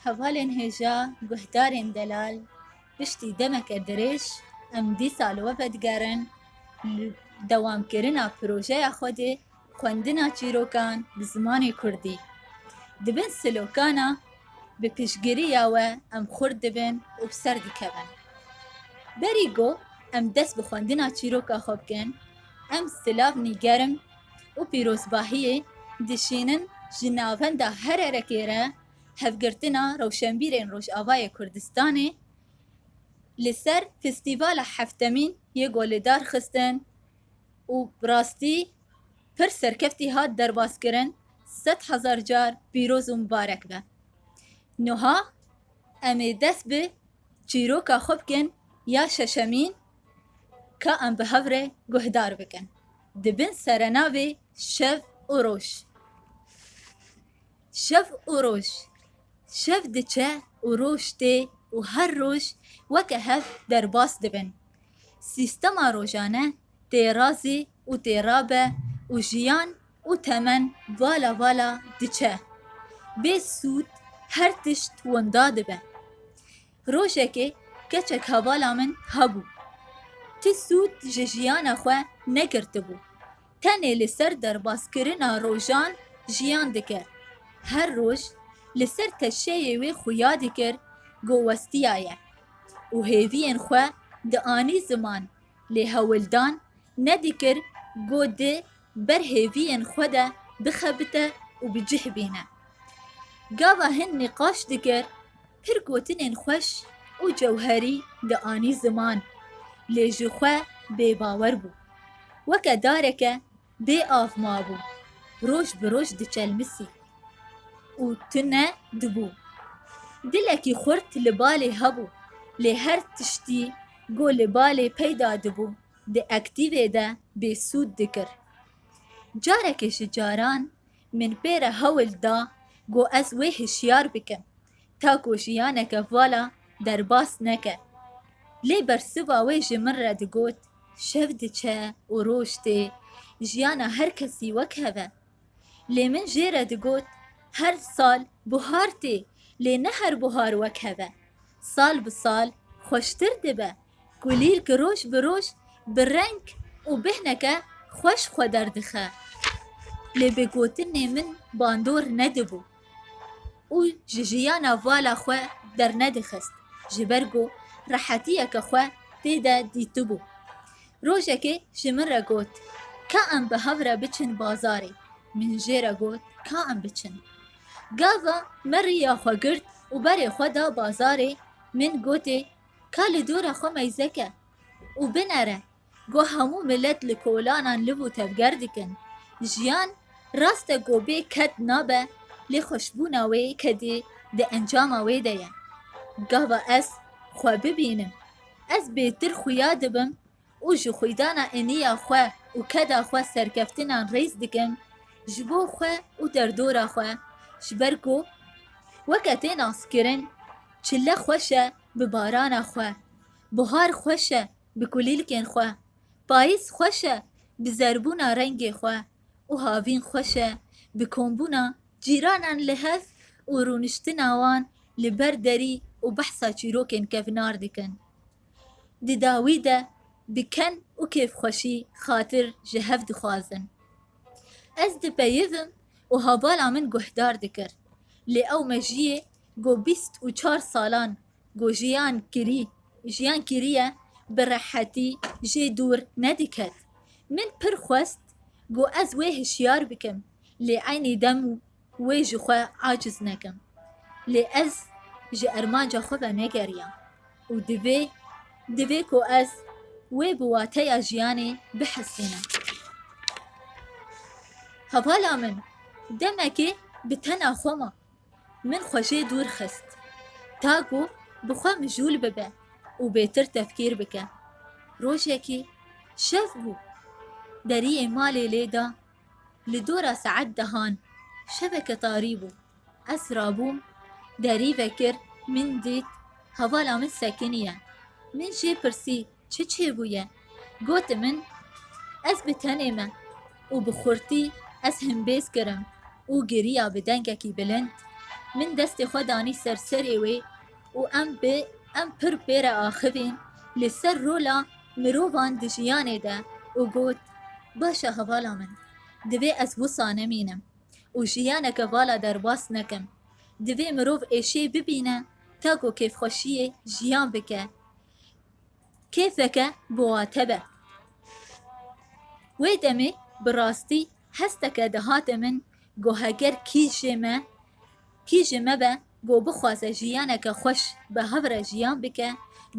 Hevalên hêja guhdarên delal piştî demeke dirêj em dîsa li we vedigerin li dewamkirina projeya xwe de xwendina çîrokan bi zimanê kurdî. Di bin slogana Bi piştgiriya we em xurt dibin û bi ser dikevin. Berî got em dest bi xwendina çîroka xwe bikin, em silav nîgerim, û pîrozbahiyê dişînin ji navenda her erekê re hevgirtina rewşenbîrên Rojavayê Kurdistanê li ser festîvala heftemîn yê Golê dar xistin û bi rastî pir serkeftî hat derbazkirin sed hezar car pîroz û mibarek be. Nuha em ê dest bi çîroka xwe bikin ya şeşemîn Ka em bi hev re guhdar bikin di bin serenavê Şev û Roj. Şev û Roj Şev diçe û roj tê û her roj weke hev derbas dibin. Sîstema rojane tê razê û tê rabe û jiyan û temen vala vala diçe. Bê sûd her tişt winda dibe. Rojekê keçek hevala min hebû. Ti sûd ji jiyana xwe negirtibû. Tenê li ser derbaskirina rojan jiyan dikir. Her roj li ser teşeyê wê xuya dikir ku westiyaye û hêviyên xwe dianî ziman lê hewildan nedikir ku di Ber hêviyên xwe de bixebite û bi cih bîne. Gava hin nîqaş dikir, pir gotinên xweş û cewherî dianî ziman, lê ji xwe bêbawer bû. Weke dareke bê av mabû, roj bi roj diçelmisî û tune dibû. Dilekî xurt li balê hebû, lê her tiştî ku li balê peyda dibû, Di aktîvê de bêsûd dikir. Carekê ji caran min pê re hewl da ku ez wê hişyar bikim ta ku jiyaneke vala derbas neke. Lê bersiva wê ji min re digot, Şev diçe û roj tê, jiyana her kesî wek hev e. Lê min jê re digot, Her sal buhar tê, lê ne her buhar wek hev e. Sal bi sal xweştir dibe. Kulîl ki roj bi roj bi reng û bêhneke xweş xwe derdixe, lê bi gotinê min bandor nedibû û ji jiyana vala xwe dernedixist ji ber ku rehetiyeke xwe tê de dîtibû. Rojekê ji min re got, Ka em bi hev re biçin bazarê? Min jê re got, Ka em biçin. Gava me riya xwe girt û berê xwe da bazarê, min gotê, Ka li dora xwe meyzeke û binere ku hemû milet li kolanan liv û tevger dikin. Jiyan rast e ku bê ked nabe lê xweşbûna wê kedê di encama wê de ye. Gava ez xwe bibînim, ez bêtir xuya dibim, û ji xwîdana eniya xwe û keda xwe serkeftinan rêz dikim ji bo xwe û derdora xwe ji ber ku weke tê naskirin çile xweş e bi barana xwe, buhar xweş e bi kulîlkên xwe, payîz xweş e bi zerbûna rengê xwe û havîn xweş e bi kombûna cîranan li hev û rûniştina wan li ber derî û behsa çîrokên kevnar dikin. di dawî de diken û kêfxweşî xatir ji hev dixwazin. Ez dipeyivim û habala min guhdar dikir, lê ew mejiyê ku bîst û çar salan ku jiyan kirî jiyan kiriye bi rehetî jê dûr nediket. Min pir xwest ku ez wê hişyar bikim lê eynî dem Wê ji xwe aciz nekin. Lê ez ji ermanca xwe ve negeriyam û divê divê ku ez wê bi wateya jiyanê bihesînim. Hevala min demekê bi tena xwe ma. Min xwe jê dûr xist ta ku bi xwe mijûl bibe û bêtir tefkîr bike. Rojekê şev bû. Deriyê malê lê da Li dora saet dehan şeveke tarî bû. Ez rabûm, derî vekir, min dît, hevala min sekiniye. Min jê pirsî çi çêbûye? Got min, Ez bi tenê me û bi xurtî ez himbêz kirim û giriya bi dengekî bilind. Min destê xwe danî ser serê wê. û em bi em pir pê re axivîn li ser rola mirovan di jiyanê de û got, Baş e hevala min, divê ez wisa nemînim û jiyaneke vala derbas nekim. Divê mirov êşê bibîne ta ku kêfxweşiyê jiyan bike. Kêfeke bi wa te be. Wê demê bi rastî hesteke dihate min ku heger kî jê me kî ji me be Ku bixwaze jiyaneke xweş bi hev re jiyan bike,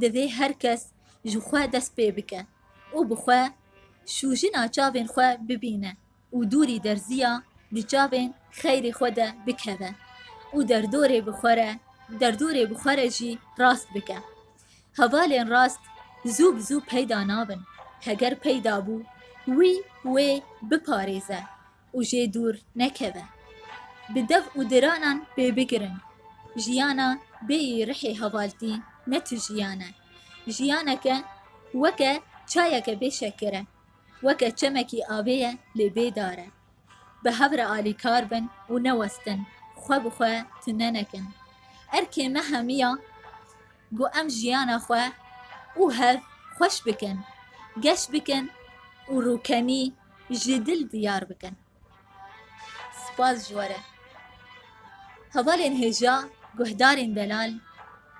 divê her kes ji xwe dest pê bike û bi xwe şûjina çavên xwe bibîne û dûrî derziya di çavên xeyrê xwe de bikeve û derdorê bi xwe re derdorê bi xwe re jî rast bike. Hevalên rast zû bi zû peyda nabin. Heger peyda bû, wî wê biparêze û jê dûr nekevin. Bi dev û diranan pê bigirin. Jiyana bêyî rihê hevaltî ne tu jiyan e. Jiyaneke weke çayeke bê şeker e. Weke çemekî avê ye lê bê dar e. Bi hev re alîkar bin û newestin, xwe bi xwe tune nekin. Erkê me hemiya. Ku em jiyana xwe û hev xweş bikin, geş bikin û rûkemî ji dil diyar bikin. Spas ji we re. Hevalên hêja guhdarên delal,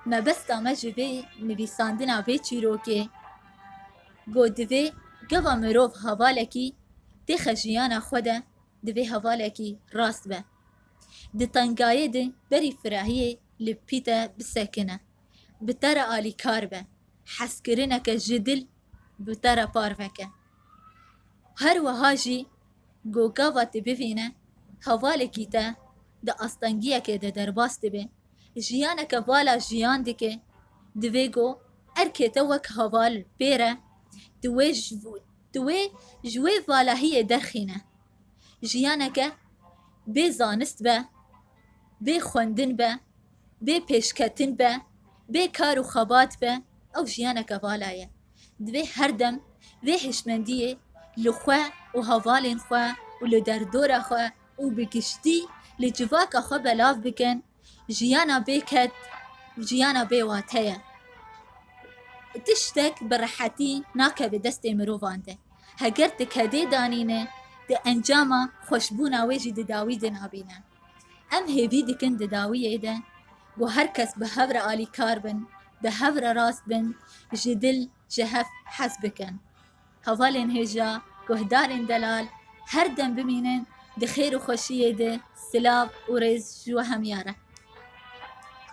mebesta me ji vê nivîsandina vê çîrokê ku divê gava mirov hevalekî têxe jiyana xwe de divê hevalekî rast be. Di tengayê de berî firehiyê li pîte bisekine, bi te re alîkar be, hezkirineke ji dil bi te re par veke. Her wiha jî ku gava te bivîne hevalekî te di astengiyekê de derbas dibe, jiyaneke vala jiyan dike, divê ku erkê te wek heval pê re di wê Tu wê ji wê valahiyê derxîne. Jiyaneke bê zanist be, bê xwendin be, bê pêşketin be, bê kar û xebat be, ew jiyaneke vala ye. Divê her dem vê hişmendiyê li xwe û hevalên xwe û li derdora xwe û bi giştî li civaka xwe belav bikin. Jiyana bê ked û jiyana bê wate ye. Tiştek bi rehetî nakeve destê mirovan de. Heger tu kedê danîne, tu encama xweşbûna wê jî di dawî de nabîne. Em hêvî dikin di dawiyê de ku her kes bi hev re alîkar bin, bi hev re rast bin, ji dil ji hev hez bikin. Hevalên hêja guhdarên delal her dem bimînin di xêr û xweşiyê de silav û rêz ji we hemîya re.